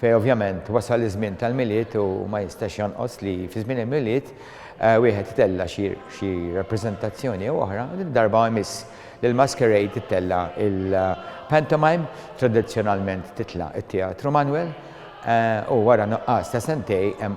Fejn ovvjament wasal iż-żmien tal-Milied u ma jistax jonqos li fi żmien il-Milied wieħed itella' xi rappreżentazzjoni jew oħra, din darba jmiss li l-masquerade tittella' il-pantomime, tradizzjonalment titla' it-Teatru Manwel u wara nuqqas ta' sentejn hemm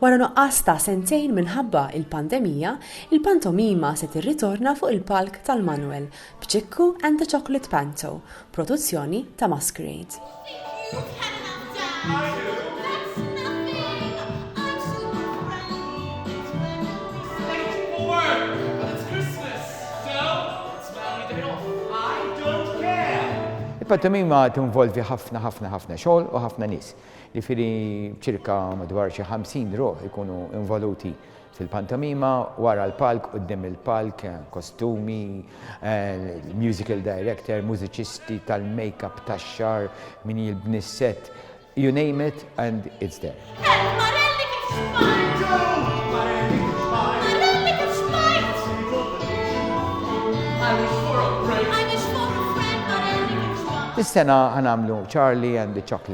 Wara nuqqas ta' sentejn minħabba il-pandemija, il-pantomima se tirritorna fuq il-palk tal-Manuel b'Ċikku and the Chocolate Panto, produzzjoni ta' Masquerade. Il-pantomima tinvolvi ħafna ħafna ħafna xogħol u ħafna nies. Jiġifieri b'ċirka madwar xi ħamsin ruħ ikunu involuti fil-pantomima, wara l-palk, quddiem il-palk, kostumi, musical director, mużiċisti, tal-makeup, tax-xagħar, min jibni s-set, you name it and it's there. Is-sena ħa nagħmlu Charlie and the Chocolate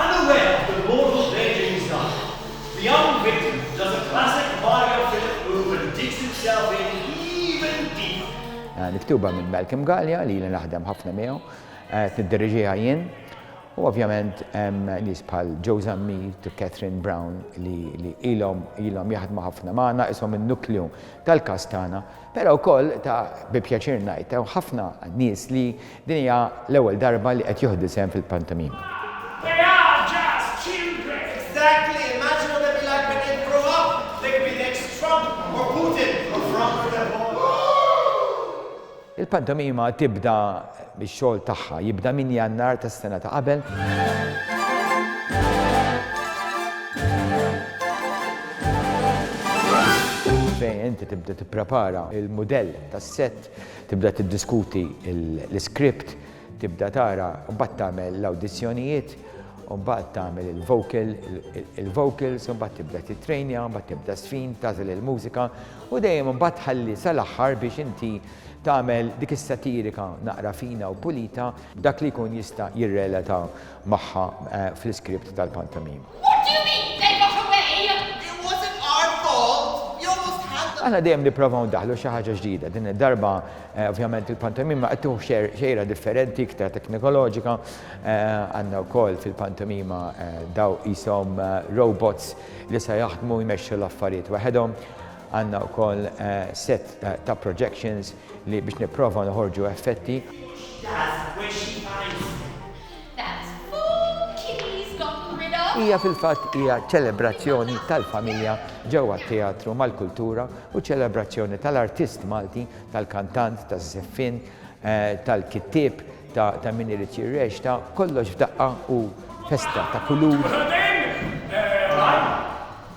Unaware of the role of their games life, the young victim does a classic Mario Philip move and digs himself in even deeper. Miktuba minn Malcolm Galea li ili naħdem ħafna miegħu, qed niddiriġiha jien u ovvjament hemm nies bħal Joe Zammit u Catherine Brown li ilhom jaħdmu ħafna magħna, qishom in-nukleu tal-kast tagħna. Però wkoll, ta' bi pjaċir ngħid, hawn ħafna nies li din hija l-ewwel darba li qed joħdu sehem fil-pantomima. They are just children! Exactly! Immaġina dan il-live qed jgħid grow up like the next Trump or Putin or Trump with a bowl! Il-pantomima tibda biex xogħol tagħha jibda minn Jannar tas-sena ta' qabel. fejn inti tibda tipprepara il-mudell tas-set, tibda tiddiskuti l-iskript, tibda tara mbagħad tagħmel l-awdizzjonijiet, mbagħad tagħmel il-vocal, il-vocals, mbagħad tibda titrejnja, mbagħad tibda sfin, tagħżel il-mużika u dejjem mbagħad tħalli sal-aħħar biex inti Tagħmel dik is-satirika naqra fina u pulita b'dak li jkun jista' jirrelata magħha fl-iskript tal-pantomima. Aħna dejjem nipprovaw ndaħħlu xi ħaġa ġdida. Din id-darba, ovvjament, il-pantomima qed tieħu xejra differenti, iktar teknikoloġika. Għandna wkoll fil-pantomima daw qishom robots li se jaħdmu jmexxu l-affarijiet waħedhom. Għandna wkoll sett ta' projections li biex nipprova noħorġu effetti. Hija fil-fatt hija ċelebrazzjoni tal-familja ġewwa t-teatru mal-kultura u ċelebrazzjoni tal-artist Malti, tal-kantant, taż-żeffien, tal-kittieb, ta' min irid jirreċta, kollox f'daqqa u festa ta' kulur.